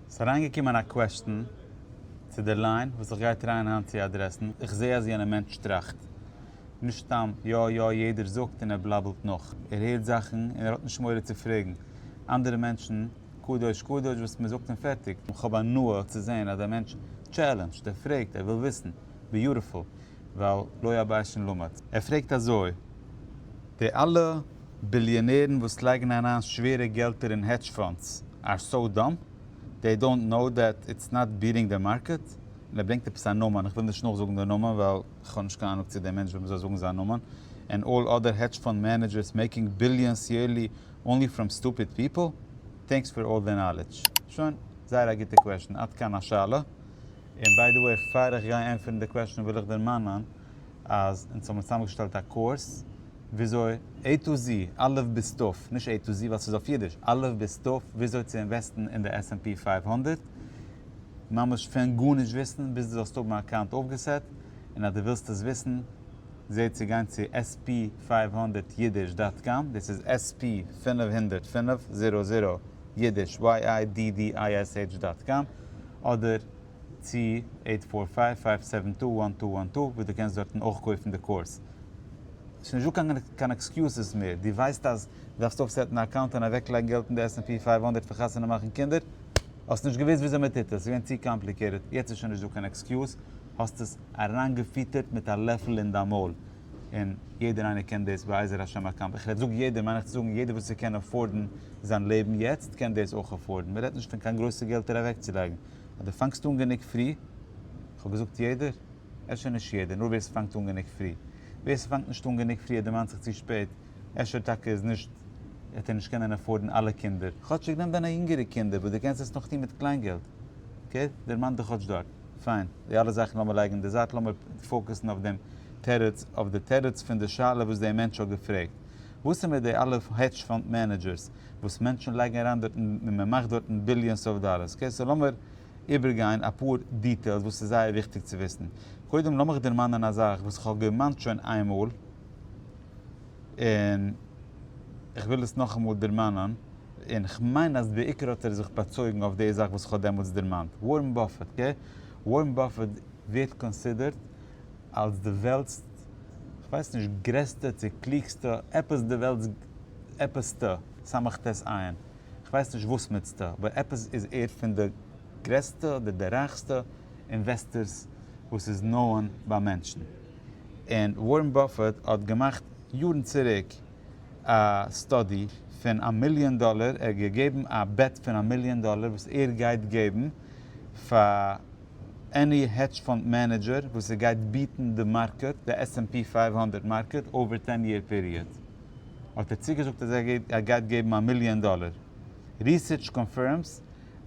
ס'איז אריינגעקומען א קוועשטן צו דער ליין וואס איך גיי טרייען היינט צו אדרעסן, איך זעה אז יענער מענטש טראכט נישט סתם יא יא יעדער זאגט און ער בלאבלט נאך, ער הערט זאכן און ער האט נישט מורא צו פרעגן אנדערע מענטשן קדוש קדוש וואס מען זאגט און פערטיג. איך האב הנאה צו זען אז דער מענטש טשעלענדזשט, ער פרעגט, ער וויל וויסן, ביוטיפול. ווייל לא הבית שום למד. ער פרעגט אזוי, די אלע ביליאנערן וואס לייגן אריין שווערע געלטער אין העדזש פאנדס אר סאו דאם, דעי דאונט נאו דעט איטס נאט ביעטינג די מארקעט, און ער ברענגט עפעס א נאמען, איך וויל נישט נאכזאגן די נאמען ווייל איך האב נישט קיין אנונג צו דער מענטש וועט מיר זאל זאגן זיין נאמען, ענד אלל אדער העדזש פאנד מענעדזשערס מעיקינג ביליאנס יערלי אנלי פראם סטופיד פיפל? טענקס פאר אלל די נאלעדזש. שוין, זייער א גוטע קוועשן, עד כאן השאלה. און ביי די וועי פאר איך גיי ענטפערן די קוועשאן וויל איך דערמאנען אז אונז האבן צוזאמען געשטעלט א קורס וויאזוי עי טו זי, אלף בית תיו, נישט עי טו זי ווייל ס'איז אויף אידיש, אלף בית תיו, וויאזוי צו אינוועסטן אין די עס ענד פי פֿינף הונדערט, ממש פון גארנישט וויסן ביז די זאלסט האבן א אקאונט אויפגעסעט, און אז די ווילסט עס וויסן זע צו גיין צו עס פי פֿינף הונדערט יידיש דאט קאם, דאס איז עס פי פֿינף הונדערט פֿינף הונדערט יידיש YIDDISH דאט קאם. אדער צו עיט פאר פייוו פייוו סעווען טו וואן טו וואן טו וואס דו קענסט דארטן אויך קויפן די קאורס. ס'איז נישט דא קיין עקסקיוזעס מער, דו ווייסט אז דו דארפסט אויפסעטן א אקאונט און אוועקלייגן געלט אין די עס ענד פי פייוו הונדערט פאר חתונה מאכן קינדער, האסט נישט געוואוסט וויאזוי מ'טוט עס, ס'איז געווען צו קאמפליקעטעד, יעצט איז שוין נישט דא קיין עקסקיוז, האסט עס אריינגעפיטערט מיט א לעפל אין דיין מויל, און יעדער איינער קען דאס בעזר השם באקאנט, איך רעד זאג יעדער מיין איך צו זאגן יעדער וואס ער קען עפארדן זיין לעבן יעצט קען דאס אויך עפארדן, מ'רעדט נישט פון קיין גרויסע געלטער אוועקצולייגן, אז דו פאנגסט אן גענוג פרי, איך האב געזאגט יעדער? אפשר נישט יעדער נאר ווער ס'פאנגט אן גענוג פרי, ווער ס'פאנגט נישט אן גענוג פרי ער דערמאנט זיך צו שפעט, אפשר טאקע איז נישט וועט ער נישט קענען עפארדן אלע קינדער, כאטשיג נעם דיינע יונגערע קינדער וואס דו קענסט עס נאך טון מיט קליינגעלט, אקעי דערמאן דיך כאטש דארט. פיין, די אלע זאכן לאמיר לייגן אין די זייט, לאמיר פאוקעסן אויף דעם תירוץ, אויף די תירוץ פון די שאלה וואס דער מענטש האט געפרעגט. וואס איז מיט די אלע העדזש פאנד מענעדזשערס וואס מענטשן לייגן אריין דארטן און מען מאכט דארטן ביליאנס אוו דאלערס? אקעי, סאו לאמיר איבערגיין אפאר דיטעילס וואס איז זייער וויכטיג צו וויסן. קודם לאמיך דערמאנען א זאך וואס איך האב געמאנט שוין איינמאל. און איך וויל עס נאכאמאל דערמאנען, און איך מיין אז בעיקר האט ער זיך באצויגן אויף די זאך וואס איך האב דעמאלטס דערמאנט, ווארען באפעט, אקעי? ווארען באפעט ווערט קאנסידערט אלס די וועלט'ס, כ'ווייס נישט, גרעסטע צו קלוגסטע, עפעס די וועלט'ס עפעס'טע, סמך ת עיין, כ'ווייס נישט וואסמיצטע, אבער עפעס איז ער פון די גרעסטע אדער די רייכסטע אינוועסטערס וואס איז נאענט ביי מענטשן. און ווארען באפעט האט געמאכט יארן צוריק א סטאדי פון א מיליאן דאלער, ער האט געגעבן א בעט פון א מיליאן דאלער וואס ער גייט געבן פאר עני העדזש פאנד מענעדזשער וואס ער גייט ביעטן די מארקעט, די עס ענד פי פֿינף הונדערט מארקעט אווער טען יער פיריעד, האט ער צוגעזאגט אז ער גייט געבן א מיליאן דאלער, ריסערטש קאנפירמס.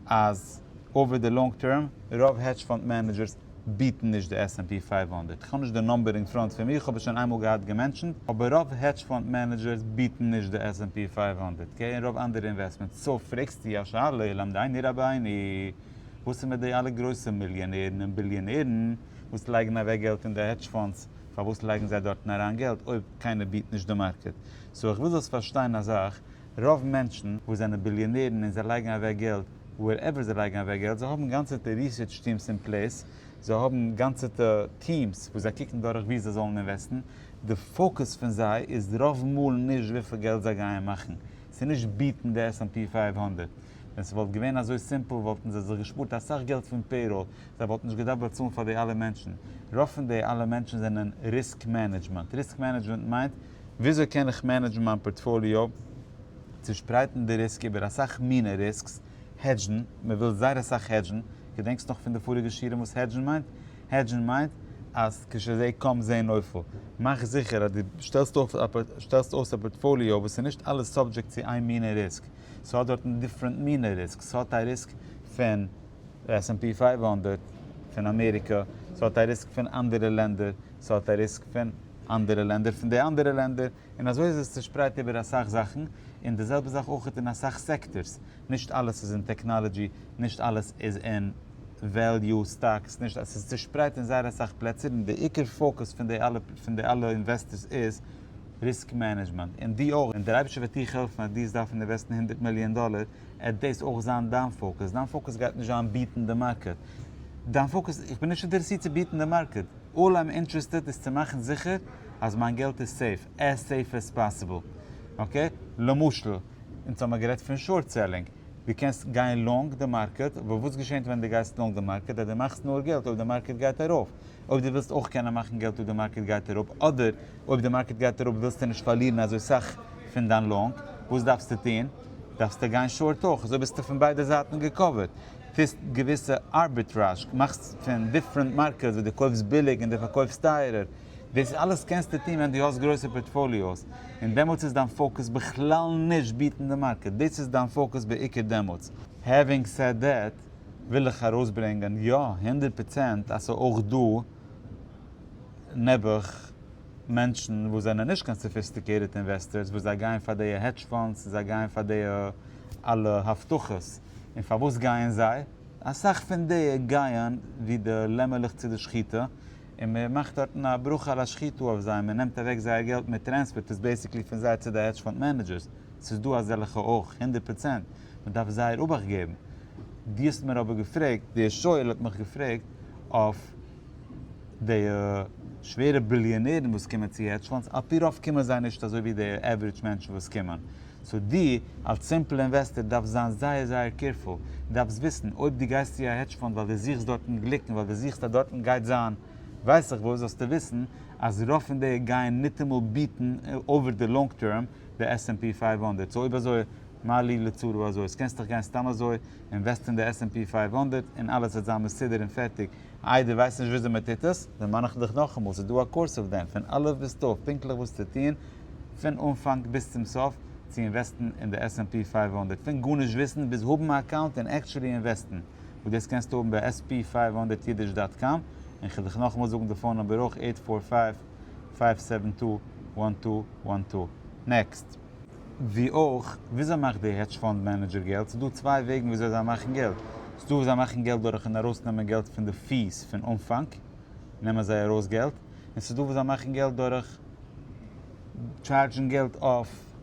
אז אווער די לאנג טערם, רוב העדזש פאנד מענעדזשערס ביעטן נישט די עס ענד פי פֿינף הונדערט. כ'האב נישט די נומבער אין פראנט פון מיר, כ'האב עס שוין איינמאל געהאט געמענטשענט, אבער רוב העדזש פאנד מענעדזשערס ביעטן נישט די עס ענד פי פֿינף הונדערט קעי און רוב אנדערע אינוועסטמענטס. סאו פרעגסטו א שאלה למדייני רבייני, וואס איז מיט די אלע גרויסע מיליאנערן און ביליאנערן וואס לייגן אוועק געלט אין די העדזש פאנדס, פארוואס לייגן זיי דארטן אריין געלט אויב קיינער ביעט נישט די מארקעט? סאו איך וויל זאלסט פארשטיין א זאך, רוב מענטשן וואס זענען ביליאנערן און זיי לייגן אוועק געלט ווערעווער זיי לייגן אוועק געלט, זיי האבן גאנצעטע ריסערטש טיעמס אין פלעיס, זיי האבן גאנצעטע טיעמס וואס זיי קוקן דורך וואו זיי זאלן אינוועסטן, די פאוקוס פון זיי איז רוב מאל נישט וויפיל געלט זיי גייען מאכן, ס'איז נישט ביעטן די עס ענד פי פֿינף הונדערט, ווען ס'וואלט געווען אזוי סימפל וואלטן זיי זיך געשפארט אסאך געלט פון פעיראל, זיי וואלטן נישט געדארפט באצאלן פאר די אלע מענטשן, רוב פון די אלע מענטשן זענען ריסק מענעדזשמענט, ריסק מענעדזשמענט מיינט. וויאזוי קען איך מענעדזשן מיין פארטפאליאו? צושפרייטן די ריסק איבער אסאך מינע ריסקס, העדזשן, מען וויל זייער אסאך העדזשן, געדענקסט נאך פון די פאריגע שיעורים וואס העדזשן מיינט? העדזשן מיינט אז כש זע קום זע נופל, מאך זיכער אז דו שטעלסט אויף שטעלסט אויס א פארטפאליאו וואס איז נישט אלעס סאבדזשעקט צו איין מינע ריסק, ס'האט דארטן דיפרענט מינע ריסקס, ס'האט א ריסק פון די עס ענד פי פֿינף הונדערט פון אמעריקא, ס'האט א ריסק פון אנדערע לענדער, ס'האט א ריסק פון. אנדערע לענדער פון די אנדערע לענדער, און אזוי איז עס צושפרייט איבער אסאך זאכן, און די זעלבע זאך אויך אין אסאך סעקטארס, נישט אלעס איז אין טעקנאלעדזשי, נישט אלעס איז אין וועליו סטאקס, נישט אלעס, עס איז צושפרייט אין זייער אסאך פלעצער, און די עיקר פאוקוס פון די אלע פון די אלע אינוועסטערס איז ריסק מענעדזשמענט, און דו אויך, און דער אייבערשטער וועט דיך העלפן אז דו וועסט דארפן אינוועסטן הונדערט מיליאן דאלער, עט דאס אויך זיין דיין פאוקוס, דיין פאוקוס גייט נישט זיין ביעטן די מארקעט, דיין פאוקוס, איך בין נישט אינטערעסירט צו ביעטן די מארקעט. אלל איים אינטרעסטעד איז צו מאכן זיכער אז מיין געלט איז סעיף, עז סעיף עז פאסיבל. אקעי? למשל, אונז האמיר גערעדט פון שארט סעללינג. דו קענסט גיין לאנג די מארקעט, אבער וואס געשענט ווען דו גייסט לאנג די מארקעט? אז דו מאכסט נאר געלט אויב די מארקעט גייט ארויף. אויב דו ווילסט אויך קענען מאכן געלט אויב די מארקעט גייט אראפ, אדער אויב די מארקעט גייט אראפ ווילסטו נישט פארלירן אזוי סאך פון דיין לאנג, וואס דארפסטו טון? דארפסטו גיין שארט אויך. אזוי ביסטו פון ביידע זייטן געקאווערט. טוסט געוויסע ארביטראזש, מאכסט פון דיפרענט מארקעטס ווי דו קויפסט ביליג און דו פארקויפסט טייערער, דאס אלעס קענסטו טון ווען דו האסט גרויסע פארטפאליאוס, און דעמאלטס איז דיין פאוקוס בכלל נישט ביעטן די מארקעט, דאס איז דיין פאוקוס בעיקר דעמאלטס. העווינג סעד דעט, וויל איך ארויסברענגען, יא, הונדערט פראצענט אז ס'איז אויך דא נעבעך מענטשן וואס זענען נישט קיין סאפיסטיקעיטעד אינוועסטערס וואס זיי גייען פאר דיע העדזש פאנדס און זיי גייען פאר דיע אלע הבטחות, און פארוואס גייען זיי? אסאך פון די גייען ווי די לעמערלעך צו די שחיטה, און מען מאכט דארטן א ברכה על השחיטה אויף זיי, מען נעמט אוועק זייער געלט, מען טרענספערט עס בעיסיקלי פון זיי צו די העדזש פאנד מענעדזשערס, ס'איז דא אזעלכע אויך, הונדערט פראצענט, מען דארף זייער אבאכט געבן. דו האסט מיר אבער געפרעגט, דער שואל האט מיך געפרעגט אויף די שווערע ביליאנערן וואס קומען צו העדזש פאנדס, על פי רוב קומען זיי נישט אזוי ווי די עוורידזש מענטשן וואס קומען, סאו דו אלס סימפל אינוועסטער דארפסט זיין זייער זייער קעירפול, דארפסט וויסן אויב דו גייסט צו א העדזש פאנד ווייל דו זוכסט דארטן גליק און ווייל דו זוכסט אז דארטן גייט זיין ווייס איך וואס, זאלסטו וויסן אז רוב פון די גייען ניטאמאל ביעטן אויווער די לאנג טערם די עס ענד פי פֿינף הונדערט, סאו אויב אזוי מה לי לצרו, אזוי איז קענסטעך גיין סתם אזוי אינוועסטען די עס ענד פי פֿינף הונדערט און אלעס וועט זיין מסודר און פערטיג, איי דו ווייסט נישט וויאזוי מען טוט עס? דערמאן איך דיך נאכאמאל, ס'איז דא א קורס אויף דעם, פון אלף ביז תיו, פונקטליך וואס צו טון פון אנפאנג ביז צום סוף, צו אינוועסטן אין די SNP פֿינף הונדערט פון גארנישט וויסן ביז האבן א אקאונט און עקטשולי אינוועסטן, וואס דאס קענסטו האבן ביי עס פי פֿינף הונדערט אידיש דאט קאם, און כ'וועל דיך נאכאמאל זאגן די פאון נומבער אויך, עיט פֿאר פֿייוו פֿייוו סעווען טו וואן טו וואן טו. נעקסט. ווי אויך, וויאזוי מאכט די העדזש פאנד מענעדזשער געלט? ס'איז דא צוויי וועגן וויאזוי זיי מאכן געלט. ס'איז דא וואס זיי מאכן געלט דורכ'ן ארויסנעמען געלט פון די פי'ס פון אנפאנג, נעמען זיי ארויס געלט. און ס'איז דא וואס זיי מאכן געלט דורך טשארדזשן געלט אויף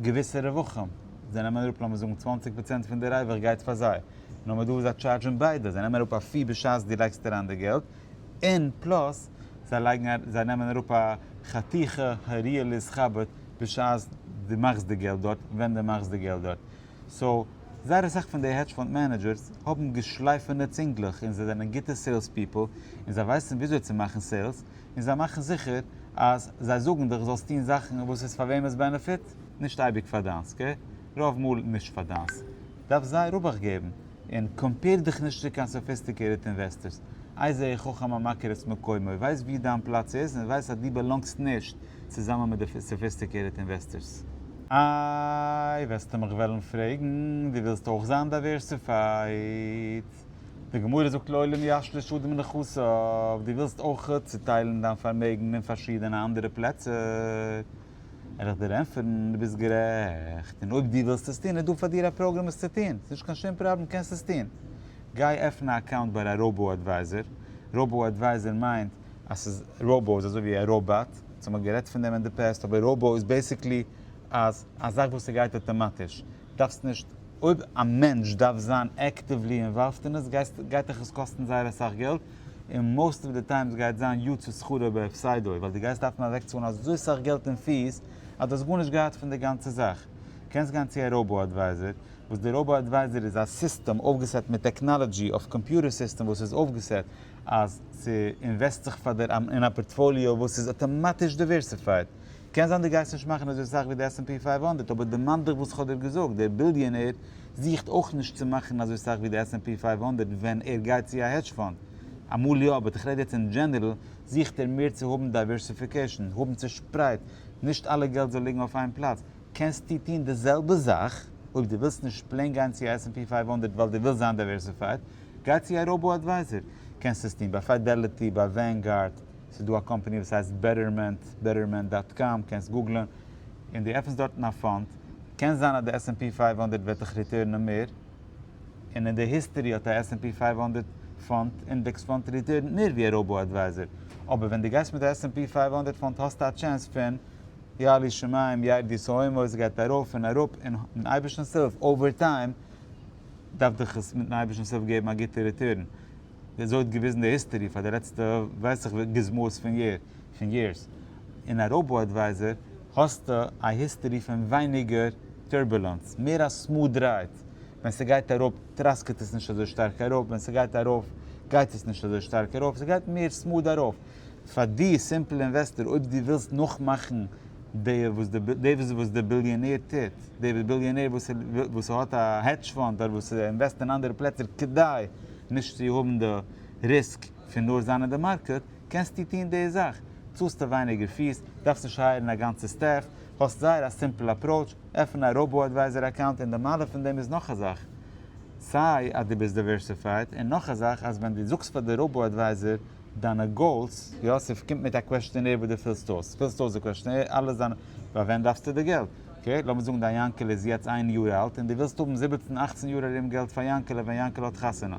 געוויסע רווחים. זיי נעמען אראפ לאמיר זאגן צוואַנציק פראצענט פון די רווח גייט פאר זיי. נאר מ'האט דא וואס זיי טשארדזשן ביידע. זיי נעמען אראפ א פי בשעת דו לייגסט אריין די געלט. און פלאס זיי לייגן א זיי נעמען אראפ א חתיכה העריה ליז חבד בשעת די מאכסט די געלט דארט און ווען די מאכסט די געלט דארט סאו זייער אסאך פון די העדזש פאנד מענעדזשערס האבן געשלייפענע צינגלעך און זיי זענען גוטע סעילס פיפל און זיי ווייסן וויאזוי צו מאכן סעילס און זיי מאכן זיכער אז זיי זאגן דיך זאלסט טון זאכן וואס איז פאר וועמענס בענעפיט? נישט אייביג פאר דיינס אקעי רוב מאל נישט פאר דיינס. דארף זיי רווח געבן, און קאמפעיר דיך נישט צו קיין סאפיסטיקעיטעד אינוועסטערס, איי זיי איך חכם המכיר את מקומו, ווייס ווי דיין פלאץ איז און ווייס אז דו באלאנגסט נישט צוזאמען מיט די סאפיסטיקעיטעד אינוועסטערס. איי וועסטו מיך וועלן פרעגן, דו ווילסט אויך זיין דייווערסיפייד? די גמרא זאגט לעולם ישלש אדם נכסיו, דו ווילסט אויך צוטיילן דיין פארמעגן אין פארשידענע אנדערע פלעצער? ער וועט דיר ענטפערן, דו ביסט גערעכט, און אויב דו ווילסט עס טון, איז דא פאר דיר א פראגראם עס צו טון, ס'איז נישט קיין שום פראבלעם, קענסט עס טון. גיי עפן א אקאונט ביי א ראובאו אדווייזער, ראובאו אדווייזער מיינט אז ס'איז, ראובאו איז אזוי ווי א ראבאט, אונז האמער גערעדט פון דעם אין די פּעסט, אבער ראובאו איז בעסיקלי אז א זאך וואס ס'גייט אויטאמאטיש, דארפסט נישט, אויב א מענטש דארף זיין עקטיוולי אינוואלווד אין עס גייט דיך עס קאסטן זייער אסאך געלט, און מאוסט אוו די טיימס גייט זיין יו ט שכרו בהפסדו ווייל די גייסט דארפן אוועקצאלן אזוי סאך געלט אין פיס אז די האסט גארנישט געהאט פון די גאנצע זאך. קענסט גיין צו א ראובא אדווייזער, וואס די ראובא אדווייזער איז א סיסטעם אויפגעסעט מיט טעקנאלעדזשי אויף קאמפיוטער סיסטעם וואס איז אויפגעסעט אז ס'אינוועסט זיך פאר דיר אין א פארטפאליאו וואס איז אטאמאטיש דיווערסיפייד. קען זיין דו גייסט נישט מאכן אזוי סאך ווי די עס ענד פי פֿינף הונדערט אבער דערמאן דיך וואס כ'האב דיר געזאגט, דער ביליאנער זוכט אויך נישט צו מאכן אזוי סאך ווי די עס ענד פי פֿינף הונדערט ווען ער גייט צו א העדזש פאנד, אמאל יא באט כ'רעד יעצט אין דזשענערל, זוכט ער מער צו האבן דייווערסיפיקעישן, האבן צושפרייט, נישט אלע געלט זאל ליגן אויף איין פלאץ, קענסטו טון די זעלבע זאך, אויב דו ווילסט נישט פלעין גיין צו א עס ענד פי פֿינף הונדערט ווייל דו ווילסט זיין דייווערסיפייד, גיי צו א ראובא אדווייזער, קענסט עס טון ביי פיידעליטי, ביי ווענגארד. ס'איז דא א קאמפעני וואס הייסט בעטערמענט, בעטערמענט דאט קאם, קענסט גוגלען, און דו עפענסט דארטן א פאנד, קען זיין אז די עס ענד פי פֿינף הונדערט וועט דיך ריטורנען מער, און אין די היסטערי האט א עס ענד פי פֿינף הונדערט פאנד, אינדעקס פאנד, ריטורנט מער ווי א ראבא אדווייזער, אבער ווען דו גייסט מיט א עס ענד פי פֿינף הונדערט פאנד האסטו א טשענס פון יעלי שמים ירדי סהוימאו עס גייט ארויף און אראפ, און מיטן אייבערשטנס הילף אווער טיים דארף דיך עס מיטן אייבערשטנס הילף געבן א גוטע ריטורן. ווי אזוי האט געוויזן די היסטערי פאר די לעצטע ווייס איך ווי גזמאות פון יער פון יערס אין א ראובא אדווייזער האסטו א היסטערי פון ווייניגער טורבולענס מער א סמוד רייד ווען ס'גייט אראפ טראסקעט עס נישט אזוי שטארק אראפ ווען ס'גייט ארויף גייט עס נישט אזוי שטארק ארויף ס'גייט מער סמוד ארויף פאר די סימפל אינוועסטער אויב די ווילסט נאכמאכן די וואס די ביליאנער טוט, די ביליאנער וואס ער האט א העדזש פאנד אדער וואס ער אינוועסט אין אנדערע פלעצער כדי נישט צו האבן די ריסק פון נאר זיין אין די מארקעט, קענסטו טון די זאך, צאלסטו ווייניגער פיס, דארפסט נישט הייערן א גאנצע סטעף, האסט זייער א סימפל אפראוטש, עפן א ראבא אדווייזער אקאונט און די מעלה פון דעם איז נאך א זאך, סיי אז די ביסט דייווערסיפייד און נאך א זאך אז ווען די זאגסט פאר די ראבא אדווייזער דיינע גאולס. יוסף קומט מיט א קוועשטענער וואס דו פילסט אויס, פילסט אויס די קוועשטענער, אלעס דיינע, פאר ווען דארפסטו די געלט? אקעי, לאמיר זאגן דיין יאנקעלע איז יעצט איין יאר אלט און דו ווילסט האבן זיבעצן אכצן יאר ארום געלט פאר יאנקעלע ווען יאנקעלע האט חתונה.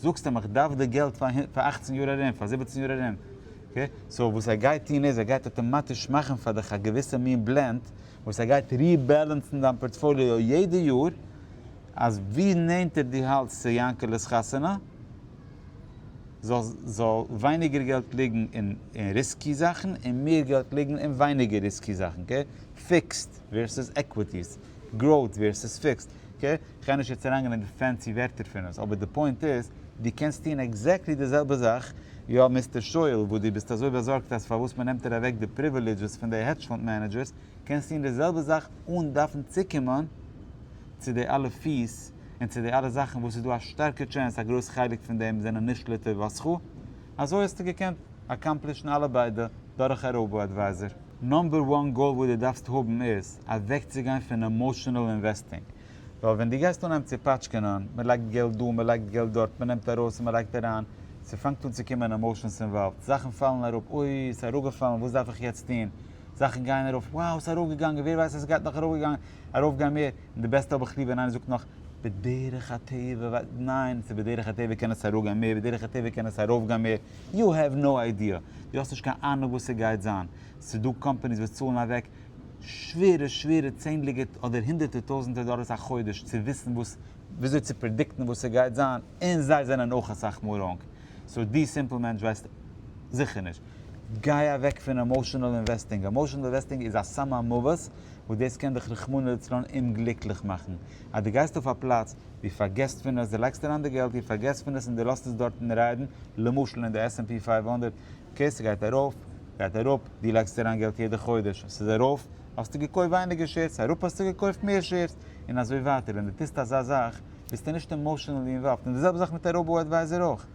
זאגסט אים איך דארף די געלט פאר אכצן יאר ארום, פאר זיבעצן יאר ארום. אקעי, סאו וואס ער גייט טון איז ער גייט אטאמאטיש מאכן פאר דיך א געוויסע מין בלענד וואס ער גייט ריבעלענסן דיין פארטפאליאו יעדע יאר אז ווי נענטער דו האלטסט צו יאנקעלע'ס חתונה, זאל ווייניגער געלט ליגן אין ריסקי זאכן און מער געלט ליגן אין ווייניגער ריסקי זאכן, אקעי? פיקסד ווערסוס עקוויטיס, גראוט ווערסוס פיקסד, אקעי? כ'גיי נישט יעצט אריינגיין אין די פענסי ווערטער פון עס, אבער די פוינט איז, דו קענסט טון עקזעקטלי די זעלבע זאך, יא מיסטער שויעל, וואס דו ביסט אזוי באזארגט אז פארוואס מ'נעמט דיר אוועק די פריווילידזשעס פון די העדזש פאנד מענעדזשערס, קענסט טון די זעלבע זאך אן דארפן צוקומען צו די אלע פיס, און צו די אלע זאכן וואס איז דא א שטארקע טשענס א גרויס חלק פון דעם זענען נישט לטובתך, אזוי האסטו געקענט אקאמפלישן אלע ביידע דורך א ראובא אדווייזער. נאמבער וואן גאול וואס דו דארפסט האבן איז אוועקצוגיין פון עמאשענעל אינוועסטינג, ווייל ווען דו גייסט אנהייבן צו פאטשקענען, מען לייגט געלט דא, מען לייגט געלט דארט, מען נעמט ארויס און מען לייגט אריין, ס'פאנגט אן צו קומען עמאשענס אינוואלווד, זאכן פאלן אראפ, אוי ס'אראפגעפאלן וואס דארף איך יעצט טון, זאכן גייען ארויף, wow ס'אראפגעגאנגען, ווער ווייסט אז ס'גייט נאך ארויפגעגאנגען, ארויף גיין מער, און די בעסטע האב איך ליב ווען איינער זאגט נאך בדרך הטבע ווייל ניין ס'איז בדרך הטבע קען עס אראפ גיין מער בדרך הטבע קען עס ארויף גיין מער, יו העוו נאו איידיע, דו האסט נישט קיין אהנונג וואס ס'גייט זיין, ס'איז דא קאמפאניס וואס צאלן אוועק שווערע שווערע צענדליגע אדער הונדערטע טויזענטע דאלערס א חודש צו וויסן וואס וויאזוי צו פרעדיקטן וואס ס'גייט זיין, און זיי זענען אויך אסאך מאל ראנג, סאו דו סימפל מענטש ווייסט זיכער נישט. גיי אוועק פון עמאושענעל אינוועסטינג, עמאושענעל אינוועסטינג איז א סם המוות, וואס דאס קען דיך רחמנא לצלן אומגליקליך מאכן, אז דו גייסט אויף א פלאץ, דו פארגעסט פון עס, דו לייגסט אריין די געלט, דו פארגעסט פון עס און דו לאזט עס דארטן ריידן, למשל אין די SNP פֿינף הונדערט, אקעי ס'גייט ארויף, גייט אראפ, דו לייגסט אריין געלט יעדע חודש, ס'איז ארויף, האסטו געקויפט ווייניגער שעירס, ס'איז אראפ האסטו געקויפט מער שעירס, און אזוי ווייטער, ווען דו טוסט אזא זאך, ביסטו נישט עמאושענעלי אינוואלווד, און די זעלבע זאך מיט א ראבאו אדווייזער אויך,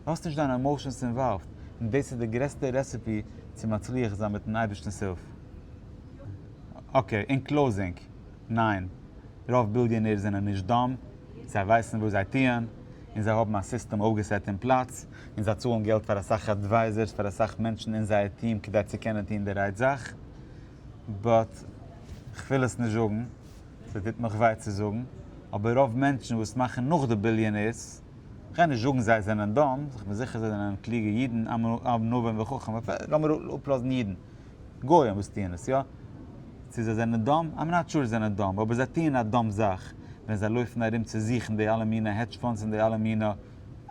דו האסט נישט דיינע עמאושענס אינוואלווד, און דאס איז די גרעסטע רעסעפי צו מצליח זיין מיטן אייבערשטנ'ס הילף. אקעי, אין קלאוזינג, ניין, רוב ביליאנערס זענען נישט דאם, זיי ווייסן וואס זיי טוען, און זיי האבן א סיסטעם אויפגעסעט אין פלאץ, און זיי צאלן געלט פאר אסאך אדווייזערס פאר אסאך מענטשן אין זייער טיעם כדי צו קענען טון די רייט זאך, באט כ'וויל עס נישט זאגן, ס'טוט מיך וויי צו זאגן, אבער רוב מענטשן וואס מאכן נאך די ביליאנערס, כ'גיי נישט זאגן זיי זענען דאם, כ'בין זיכער זיי זענען קלוגע אידן ענווים וחכם, לאמיר אפלאזן אידן. גוים וואס טוען עס יא, צו זיי זענען דאם, איים נאט שור זיי זענען דאם, אבער זיי טוען א דאם זאך, ווען זיי לויפן ארום צו זוכן די אלע מינע העדזש פאנדס און די אלע מינע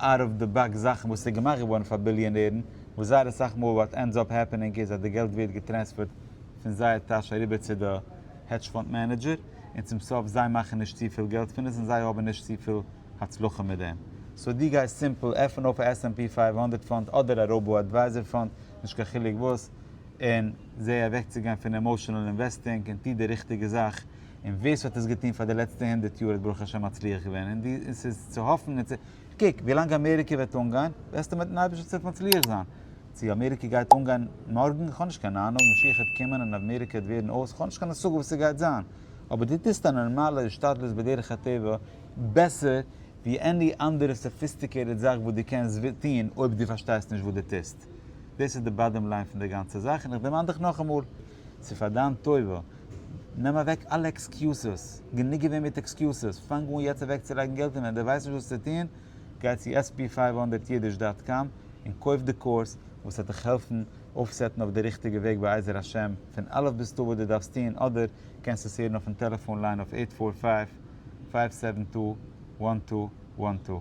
אוט אוו די באקס זאכן וואס איז געמאכט געווארן פאר ביליאנערן, וואס זייער אסאך מאל וואט ענדס אפ העפענינג איז אז די געלט ווערט געטרענספערט פון זייער טאש אריבער צו די העדזש פאנד מענעדזשער, און צום סוף זיי מאכן נישט צופיל געלט פון עס און זיי האבן נישט צופיל הצלחה מיט דעם. סאו דו גייסט סימפל עפענען אויף א עס ענד פי פֿינף הונדערט פאנד אדער א ראובא אדווייזער פאנד, נישט קיין חילוק וואס, און זע אוועקצוגיין פון עמאושענעל אינוועסטינג און טו די ריכטיגע זאך, און ווער ס'האט עס געטון פאר די לעצטע הונדערט יאר האט ברוך השם מצליח געווען, און דו, און ס'איז צו האפן און צו, קוק, ווילאנג אמעריקע וועט אנגיין, וועסטו מיטן אייבערשטנ'ס הילף מצליח זיין, צו אמעריקע גייט אנגיין מארגן, כ'האב נישט קיין אהנונג, משיח וועט קומען און אמעריקע וועט ווערן אויס, כ'האב נישט קיין השגה וואס ס'גייט זיין, אבער דו טוסט א נארמאלע השתדלות בדרך הטבע בעסער ווי עני אנדערע סאפיסטיקעיטעד זאך וואס דו קענסט טון אויב דו פארשטייסט נישט וואס דו טוסט. גערעכט. דאס איז די באדעם ליין פון די גאנצע זאך, און איך דערמאן דיך נאכאמאל, ס'איז פאר דיין טובה, נעם אוועק אלע עקסקיוסעס, גענוג געווען מיט עקסקיוסעס, פאנג אן יעצט אוועקצולייגן געלט און ווען די ווייסט נישט וואס צו טון, גיי צו עס פי פֿינף הונדערט אידיש דאט קאם און קויף די קורס וואס וועט דיך העלפן אויפסעטן אויף די ריכטיגע וועג בעזר השם פון אלף ביז תיו וואס די דארפסט טון, אדער קענסט עס הערן אויפן טעלעפאן ליין אויף עיט פאר פייוו פייוו סעווען טו וואן טו וואן טו.